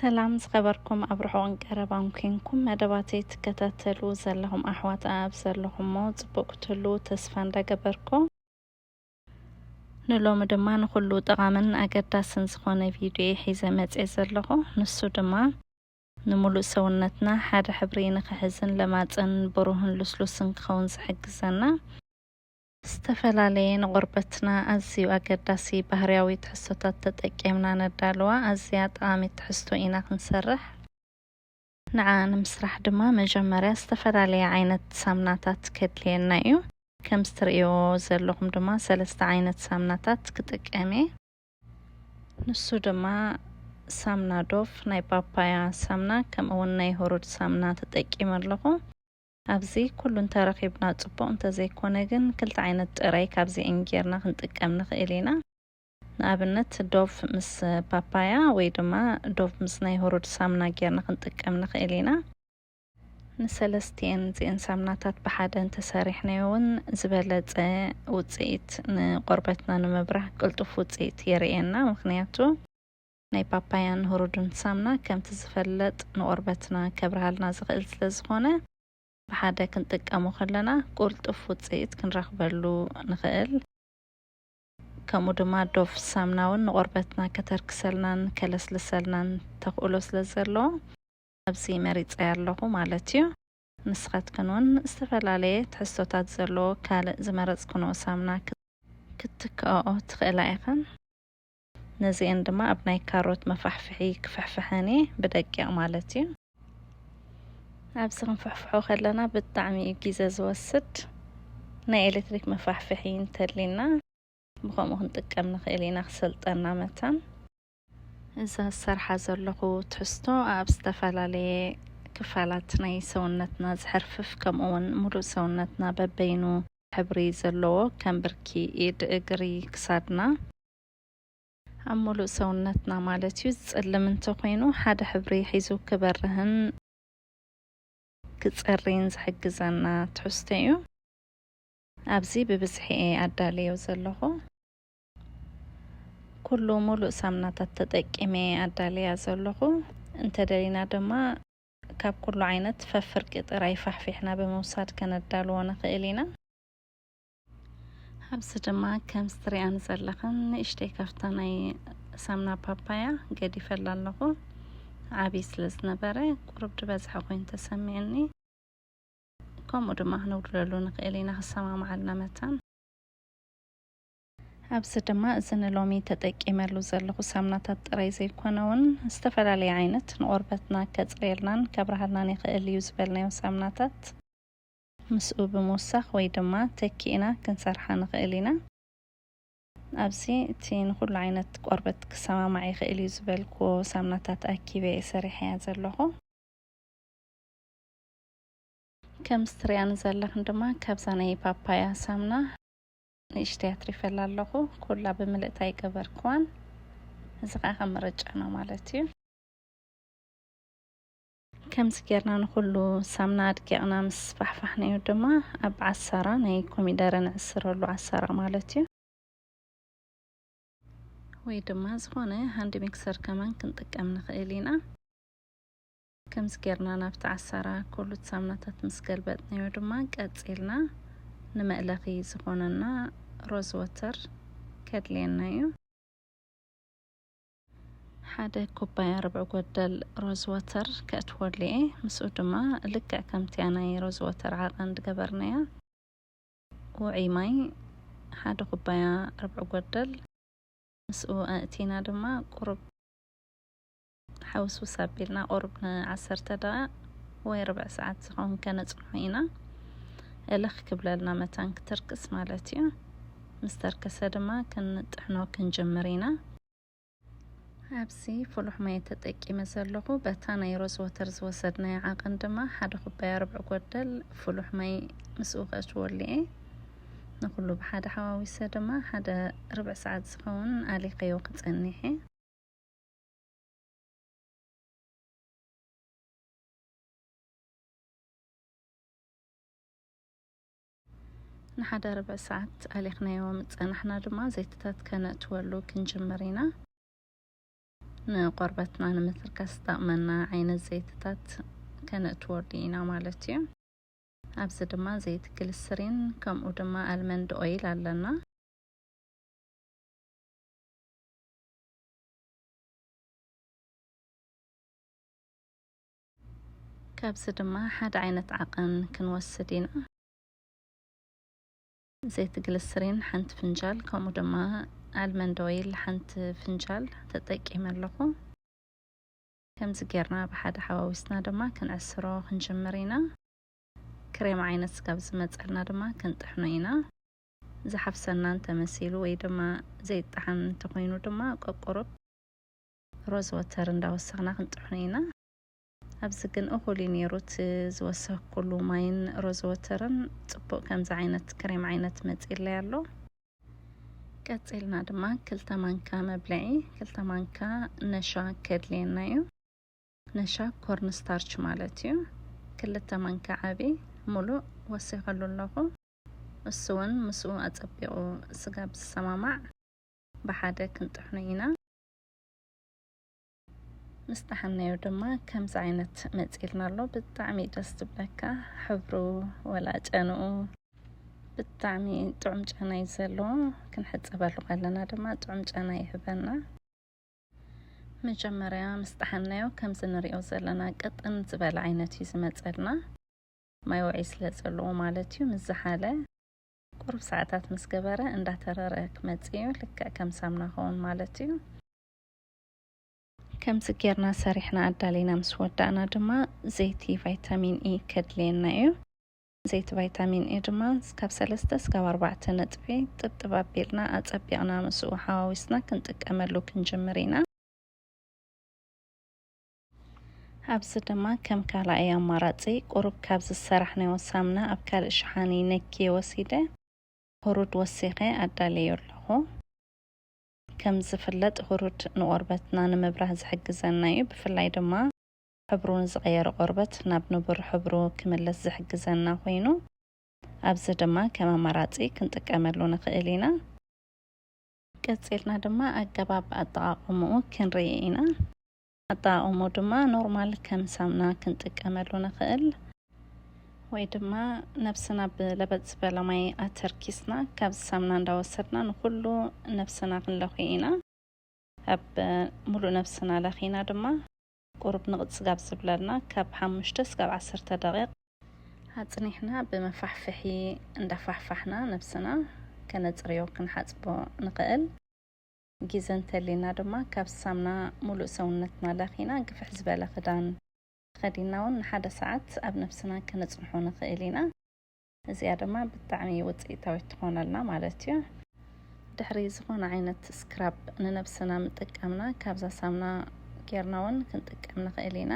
ሰላም ዝኸበርኩም ኣብ ርሑቕን ቀረባን ኩንኩም መደባተይ ትከታተሉ ዘለኹም ኣሕዋት ኣኣብ ዘለኹሞ ጽቡቕ ክትህልዉ ተስፋ እንዳገበርኩ ንሎሚ ድማ ንኹሉ ጠቓምን ኣገዳስን ዝኾነ ቪድዮ ሒዘ መጽየ ዘለኹ ንሱ ድማ ንምሉእ ሰውነትና ሓደ ሕብሪ ንኽሕዝን ለማጽን ብሩህን ልስሉስን ክኸውን ዝሕግዘና ዝተፈላለየ ንቆርበትና ኣዝዩ ኣገዳሲ ባህርያዊ ትሕዝቶታት ተጠቂምና ነዳልዋ ኣዝያ ጠቓሚት ትሕዝቶ ኢና ክንሰርሕ። ንዓ ንምስራሕ ድማ መጀመርያ ዝተፈላለየ ዓይነት ሳምናታት ከድልየና እዩ። ከምዚ ትርእይዎ ዘለኹም ድማ ሰለስተ ዓይነት ሳምናታት ክጥቀም እየ። ንሱ ድማ ሳምና ዶፍ፣ ናይ ፓፓያ ሳምና ከምኡውን ናይ ሁሩድ ሳምና ተጠቂመ ኣለኹ። ኣብዚ ኩሉ እንተረኺብና ጽቡቕ እንተዘይኮነ ግን ክልተ ዓይነት ጥረ ካብዚኤን ጌርና ክንጥቀም ንኽእል ኢና። ንኣብነት ዶቭ ምስ ፓፓያ ወይ ድማ ዶቭ ምስ ናይ ሁሩድ ሳምና ጌርና ክንጥቀም ንኽእል ኢና። ንሰለስቲኤን እዚኤን ሳምናታት ብሓደ እንተሰሪሕናዮ እውን ዝበለጸ ውጽኢት ንቆርበትና ንምብራህ ቅልጡፍ ውጽኢት የርእየና ምኽንያቱ ናይ ፓፓያን ሁሩዱን ሳምና ከምቲ ዝፈለጥ ንቆርበትና ከብርሃልና ዝኽእል ስለዝኾነ ብሓደ ክንጥቀሞ ከለና ቁልጡፍ ውጽኢት ክንረኽበሉ ንኽእል። ከምኡ ድማ ዶቭ ሳምናውን ንቆርበትና ከተርክሰልናን ከለስልሰልናን ተኽእሎ ስለዘለዎ ኣብዚ መሪጸያ ኣለኹ ማለት እዩ። ንስኻትክን እውን ዝተፈላለየ ትሕዝቶታት ዘለዎ ካልእ ዝመረጽክንኦ ሳምና ክትትክኣኦ ትኽእላ ኢኽን። ነዚኤን ድማ ኣብ ናይ ካሮት መፋሕፍሒ ክፍሕፍሐን እየ ብደቂቕ ማለት እዩ ኣብዚ ክንፍሕፍሖ ከለና ብጣዕሚ እዩ ግዜ ዝወስድ ናይ ኤሌክትሪክ መፋሕፍሒ እንተሊና ብከምኡ ክንጥቀም ንኽእል ኢና ክሰልጠና መታን እዛ ዝሰርሓ ዘለኹ ትሕዝቶ ኣብ ዝተፈላለየ ክፋላት ናይ ሰውነትና ዝሕርፍፍ ከምኡ ውን ሙሉእ ሰውነትና በበይኑ ሕብሪ ዘለዎ ከም ብርኪ ኢድ እግሪ ክሳድና ኣብ ሙሉእ ሰውነትና ማለት እዩ ዝጸልም እንተኾይኑ ሓደ ሕብሪ ሒዙ ክበርህን ክጸርይን ዝሕግዘና ትሕዝቶ እዩ። ኣብዚ ብብዝሒ እየ ኣዳልዮ ዘለኹ። ኩሉ ሙሉእ ሳምናታት ተጠቂመ እየ ኣዳልያ ዘለኹ። እንተደሊና ድማ ካብ ኩሉ ዓይነት ፈፍርቂ ጥራይ ፋሕፊሕና ብምውሳድ ከነዳልዎ ንኽእል ኢና። ኣብዚ ድማ ከም ስትሪኣን ዘለኽን ንእሽተይ ካብታ ናይ ሳምና ፓፓያ ገዲፈላ ኣለኹ ዓብዪ ስለ ዝነበረ ቁሩብ ድበዝሐ ኮይኑ ተሰሚዕኒ ከምኡ ድማ ክንውድለሉ ንኽእል ኢና ክሰማማዓልና መታን ኣብዚ ድማ እዚ ንሎሚ ተጠቂመሉ ዘለኹ ሳምናታት ጥራይ ዘይኮነ እውን ዝተፈላለየ ዓይነት ንቆርበትና ከፅርየልናን ከብርሃልናን ይኽእል እዩ ዝበልናዮ ሳምናታት ምስኡ ብምውሳኽ ወይ ድማ ተኪእና ክንሰርሓ ንኽእል ኢና። ኣብዚ እቲ ንኹሉ ዓይነት ቆርበት ክሰማማዕ ይኽእል እዩ ዝበልኩዎ ሳምናታት ኣኪበ እየ ሰሪሐያ ዘለኹ። ከምዚ ትሪኣኒ ዘለኽን ድማ ካብዛ ናይ ፓፓያ ሳምና ንእሽተይ ኣትሪፈላ ኣለኹ። ኩላ ብምልእታ ኣይገበርኩዋን። እዚ ከዓ ከም ምርጫና ማለት እዩ። ከምዚ ጌርና ንኹሉ ሳምና ኣድቂቕና ምስ ፋሕፋሕናዮ ድማ ኣብ ዓሳራ ናይ ኮሚደረ ንዕስረሉ፣ ዓሳራ ማለት እዩ። ወይ ድማ ዝኾነ ሃንድ ሚክሰር ከማን ክንጥቀም ንኽእል ኢና። ከምዚ ጌርና ናብቲ ዓሳራ ኮሉት ሳምናታት ምስ ገልበጥናዮ ድማ ቀጺልና ንመእለኺ ዝኾነና ሮዝ ወተር ከድልየና እዩ። ሓደ ኩባያ ርብዒ ጎደል ሮዝ ወተር ከእትወሉ እየ። ምስኡ ድማ ልክዕ ከምቲያ ናይ ሮዝ ወተር ዓቐን ዝገበርናያ ውዑይ ማይ ሓደ ኩባያ ርብዒ ጎደል ምስኡ ኣእቲና ድማ ቁሩብ ሓውስውስ ኣቢልና ቁሩብ ንዓሰርተ ደቓቕ ወይ ርብዕ ሰዓት ዝኸውን ከነፅንሖ ኢና። እልኽ ክብለልና መታን ክትርክስ ማለት እዩ። ምስ ተርከሰ ድማ ክንጥሕኖ ክንጅምር ኢና። ኣብዚ ፍሉሕ ማይ ተጠቂመ ዘለኹ። በታ ናይ ሮዝ ወተር ዝወሰድናያ ዓቐን ድማ ሓደ ኩባያ ርብዒ ጎደል ፍሉሕ ማይ ምስኡ ከእትወሉ እየ። ንኹሉ ብሓደ ሓዋዊሰ ድማ ሓደ ርብዒ ሰዓት ዝኸውን ኣሊኸዮ ክጸኒሕ እየ። ንሓደ ርብዒ ሰዓት ኣሊኽናዮ ምስ ጸናሕና ድማ ዘይትታት ከነእትወሉ ክንጅምር ኢና። ንቆርበትና ንምትርካስ ዝጠቕመና ዓይነት ዘይትታት ከነእትወሉ ኢና ማለት እዩ። ኣብዚ ድማ ዘይቲ ግልስሪን ከምኡ ድማ ኣልመንድ ኦይል ኣለና። ካብዚ ድማ ሓደ ዓይነት ዓቐን ክንወስድ ኢና። ዘይቲ ግልስሪን ሓንቲ ፍንጃል ከምኡ ድማ ኣልመንድ ኦይል ሓንቲ ፍንጃል ተጠቂመ ኣለኹ። ከምዚ ጌርና ብሓደ ሓዋዊስና ድማ ክንዕስሮ ክንጅምር ኢና። ክሬም ዓይነት ስጋብ ዝመፀልና ድማ ክንጥሕኖ ኢና። ዝሓፍሰና እንተመሲሉ ወይ ድማ ዘይጠዓም እንተኾይኑ ድማ ቆቁሩብ ሮዝ ወተር እንዳወሰኽና ክንጥሕኖ ኢና። ኣብዚ ግን እኹል እዩ ነይሩ እቲ ዝወሰኽኩሉ ማይን ሮዝ ወተርን ጽቡቕ ከምዚ ዓይነት ክሬም ዓይነት መጺለይ ኣሎ። ቀጺልና ድማ ክልተ ማንካ መብልዒ ክልተ ማንካ ነሻ ከድልየና እዩ። ነሻ ኮርን ስታርች ማለት እዩ። ክልተ ማንካ ዓቢ ሙሉእ ወሲኸሉ ኣለኹ። እሱ እውን ምስኡ ኣጸቢቑ ስጋብ ዝሰማማዕ ብሓደ ክንጥሕኖ ኢና። ምስ ጠሓናዮ ድማ ከምዚ ዓይነት መፂልና ኣሎ ብጣዕሚ ደስ ዝብለካ ሕብሩ ወላ ጨንኡ ብጣዕሚ ጥዑም ጨና እዩ ዘለዎ ክንሕፀበሉ ከለና ድማ ጥዑም ጨና ይህበና መጀመርያ ምስ ጠሓናዮ ከምዚ ንሪኦ ዘለና ቅጥን ዝበለ ዓይነት እዩ ዝመፀልና ማይ ውዒ ስለ ዘለዎ ማለት እዩ ምስ ዝሓለ ቁሩብ ሰዓታት ምስ ገበረ እንዳተረረ ክመጽእ እዩ ልክዕ ከም ሳምና ኸውን ማለት እዩ ከምዚ ጌርና ሰሪሕና ኣዳሊና ምስ ወዳእና ድማ ዘይቲ ቫይታሚን ኢ ከድልየና እዩ ዘይቲ ቫይታሚን ኤ ድማ ካብ ሰለስተ እስካብ ኣርባዕተ ነጥቢ ጥብጥብ ኣቢልና ኣጸቢቕና ምስኡ ሓዋዊስና ክንጥቀመሉ ክንጅምር ኢና። ኣብዚ ድማ ከም ካልኣይ ኣማራጺ ቁሩብ ካብ ዝሰራሕናዮ ሳምና ኣብ ካልእ ሸሓኒ ነክየ ወሲደ ሁሩድ ወሲኸ ኣዳልየዮ ኣለኹ። ከም ዝፍለጥ ሁሩድ ንቆርበትና ንምብራህ ዝሕግዘና እዩ። ብፍላይ ድማ ሕብሩ ንዝቐየረ ቆርበት ናብ ንቡር ሕብሩ ክምለስ ዝሕግዘና ኮይኑ ኣብዚ ድማ ከም ኣማራጺ ክንጥቀመሉ ንኽእል ኢና። ቀጺልና ድማ ኣገባብ ኣጠቓቕምኡ ክንርኢ ኢና። ኣታ ኦሞ ድማ ኖርማል ከም ሳምና ክንጥቀመሉ ንክእል። ወይ ድማ ነብስና ብለበጥ ዝበለ ማይ ኣተርኪስና ካብዚ ሳምና እንዳወሰድና ንኩሉ ነብስና ክንለክዮ ኢና። ኣብ ሙሉእ ነብስና ለኪና ድማ ቁሩብ ንቅፅ ጋብ ዝብለልና ካብ ሓሙሽተ እስካብ ዓሰርተ ደቂቅ። ኣፅኒሕና ብመፋሕፍሒ እንዳፋሕፋሕና ነብስና ከነፅርዮ፣ ክንሓፅቦ፣ ንክእል። ጊዘ እንተሊና ድማ ካብ ሳምና ሙሉእ ሰውነትና ለኺና ግፍሕ ዝበለ ክዳን ተኸዲንና ውን ንሓደ ሰዓት ኣብ ነብስና ከነጽንሖ ንኽእል ኢና። እዚኣ ድማ ብጣዕሚ ውጽኢታዊት ትኾነልና ማለት እዩ። ድሕሪ ዝኾነ ዓይነት ስክራብ ንነብስና ምጥቃምና ካብዛ ሳምና ጌርና ውን ክንጥቀም ንኽእል ኢና።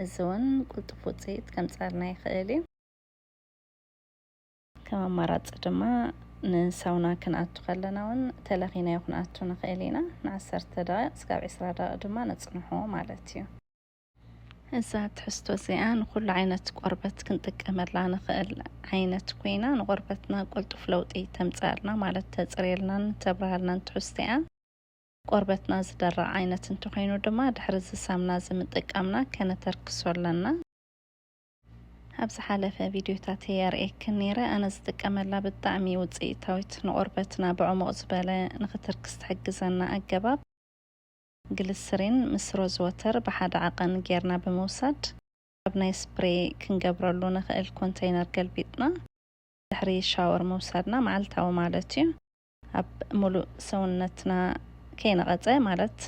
እዚ ውን ቁልጡፍ ውጽኢት ከምጽኣልና ይኽእል እዩ። ከም ኣማራጺ ድማ ንሳውና ክንኣቱ ከለና ውን ተለኺናዮ ክንኣቱ ንኽእል ኢና። ንዓሰርተ ደቒቕ እስካብ ዕስራ ደቒቕ ድማ ነጽንሖ ማለት እዩ። እዛ ትሕዝቶ እዚኣ ንኹሉ ዓይነት ቆርበት ክንጥቀመላ ንኽእል ዓይነት ኮይና ንቆርበትና ቅልጡፍ ለውጢ ተምጽኣልና ማለት ተጽርየልናን ተብርሃልናን ትሕዝቶ'ያ። ቆርበትና ዝደርቕ ዓይነት እንተኾይኑ ድማ ድሕሪ እዚ ሳምና እዚ ምጥቃምና ከነተርክሶ ኣለና። ኣብ ዝሓለፈ ቪድዮታተይ ኣርእየክን ነይረ ኣነ ዝጥቀመላ ብጣዕሚ ውፅኢታዊት ንቆርበትና ብዕሙቕ ዝበለ ንክትርክስ ትሕግዘና ኣገባብ ግልስሪን ምስ ሮዝ ወተር ብሓደ ዓቐን ጌርና ብምውሳድ ኣብ ናይ ስፕሬይ ክንገብረሉ ንኽእል ኮንተይነር ገልቢጥና ድሕሪ ሻወር ምውሳድና መዓልታዊ ማለት እዩ ኣብ ሙሉእ ሰውነትና ከይነቐጸ ማለት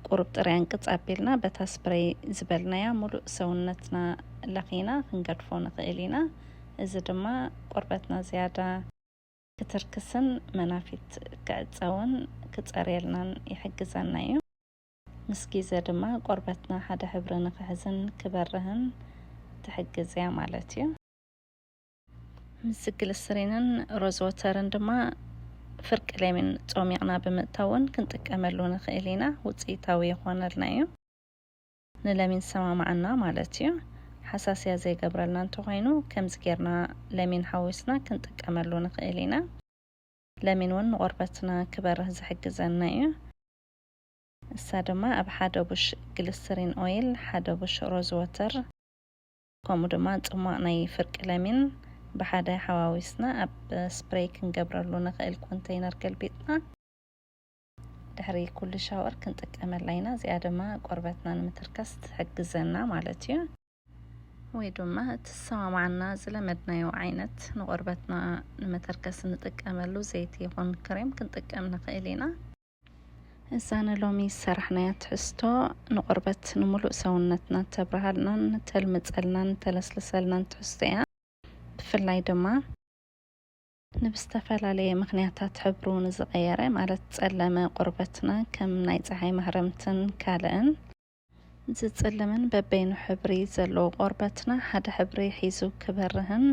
ቁሩብ ጥረ ኣንቅጽ ኣቢልና በታ ስፕረይ ዝበልናያ ሙሉእ ሰውነትና ለኺና ክንገድፎ ንኽእል ኢና። እዚ ድማ ቆርበትና ዝያዳ ክትርክስን መናፊት ክዕጸውን ክጸርየልናን ይሕግዘና እዩ። ምስ ግዜ ድማ ቆርበትና ሓደ ሕብሪ ንኽሕዝን ክበርህን ትሕግዝ እያ ማለት እዩ። ምስ ግልስሪንን ሮዝወተርን ድማ ፍርቂ ለሚን ጾሚቕና ብምእታው እውን ክንጥቀመሉ ንኽእል ኢና ውፅኢታዊ ይኾነልና እዩ ንለሚን ዝሰማማዓና ማለት እዩ ሓሳስያ ዘይገብረልና እንተኾይኑ ከምዚ ጌርና ለሚን ሓዊስና ክንጥቀመሉ ንኽእል ኢና ለሚን እውን ንቆርበትና ክበርህ ዝሕግዘና እዩ እሳ ድማ ኣብ ሓደ ቡሽ ግልስሪን ኦይል ሓደ ቡሽ ሮዝወተር ከምኡ ድማ ጽሟቕ ናይ ፍርቂ ለሚን ብሓደ ሓዋዊስና ኣብ ስፕረይ ክንገብረሉ ንኽእል ኮንተይነር ገልቢጥና ድሕሪ ኩሉ ሻወር ክንጥቀመላ ኢና። እዚኣ ድማ ቆርበትና ንምትርካስ ትሕግዘና ማለት እዩ። ወይ ድማ እትሰማማዓና ዝለመድናዮ ዓይነት ንቆርበትና ንመተርከስ እንጥቀመሉ ዘይቲ ይኹን ክሬም ክንጥቀም ንኽእል ኢና። እዛ ንሎሚ ዝሰራሕናያ ትሕዝቶ ንቆርበት ንሙሉእ ሰውነትና እተብርሃልናን እተልምጸልናን እተለስልሰልናን ትሕዝቶ እያ። ብፍላይ ድማ ንብዝተፈላለየ ምክንያታት ሕብሩ ንዝቐየረ ማለት ጸለመ ቆርበትና ከም ናይ ጸሓይ ማህረምትን ካልእን ዝጽልምን በበይኑ ሕብሪ ዘለዎ ቆርበትና ሓደ ሕብሪ ሒዙ ክበርህን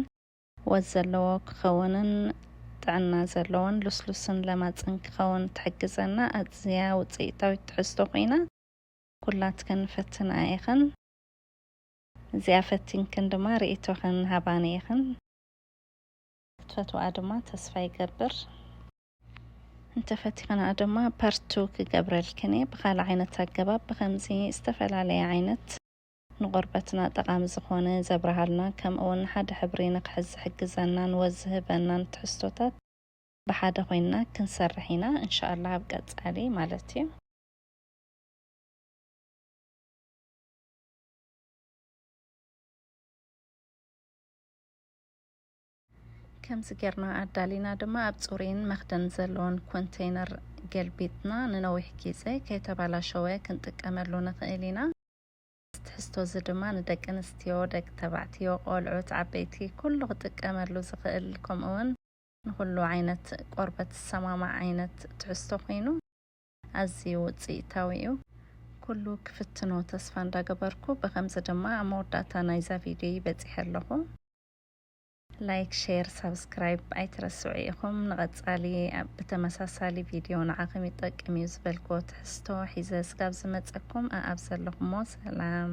ወዝ ዘለዎ ክኸውንን ጥዕና ዘለዎን ልስሉስን ለማጽን ክኸውን ትሕግዘና ኣዝያ ውጽኢታዊት ትሕዝቶ ኮይና ኩላትክን ፈትንኣ ኢኽን። እዚኣ ፈቲንክን ድማ ርእይቶኽን ሃባኒ ኢኽን። ክትፈትውኣ ድማ ተስፋ ይገብር። እንተፈቲኽንኣ ድማ ፓርት ቱ ክገብረልክን እየ ብኻልእ ዓይነት ኣገባብ ብኸምዚ ዝተፈላለየ ዓይነት። ንቆርበትና ጠቓሚ ዝኾነ ዘብርሃልና ከምኡ ውን ሓደ ሕብሪ ንክሕዝ ዝሕግዘናን ወዝ ዝህበናን ትሕዝቶታት ብሓደ ኮይንና ክንሰርሕ ኢና እንሻኣላህ ኣብ ቀጻሊ ማለት እዩ። ከምዚ ጌርና ኣዳሊና ድማ ኣብ ፅሩይን መኽደን ዘለዎን ኮንተይነር ገልቢጥና ንነዊሕ ጊዘ ከይተባላሸወ ክንጥቀመሉ ንኽእል ኢና። እዚ ትሕዝቶ እዚ ድማ ንደቂ ኣንስትዮ፣ ደቂ ተባዕትዮ፣ ቆልዑት፣ ዓበይቲ ኩሉ ክጥቀመሉ ዝኽእል ከምኡ ውን ንኹሉ ዓይነት ቆርበት ዝሰማማዕ ዓይነት ትሕዝቶ ኮይኑ ኣዝዩ ውጽኢታዊ እዩ። ኩሉ ክፍትኖ ተስፋ እንዳገበርኩ ብኸምዚ ድማ ኣብ መወዳእታ ናይዛ ቪድዮይ በጺሐ ኣለኹ። ላይክ ሼር ሳብስክራይብ ኣይትረስዑ ኢኹም። ንቐጻሊ ኣብ ብተመሳሳሊ ቪድዮ ንዓኹም ይጠቅም እዩ ዝበልክዎ ትሕዝቶ ሒዘ ስጋብ ዝመጸኩም ኣኣብ ዘለኹሞ ሰላም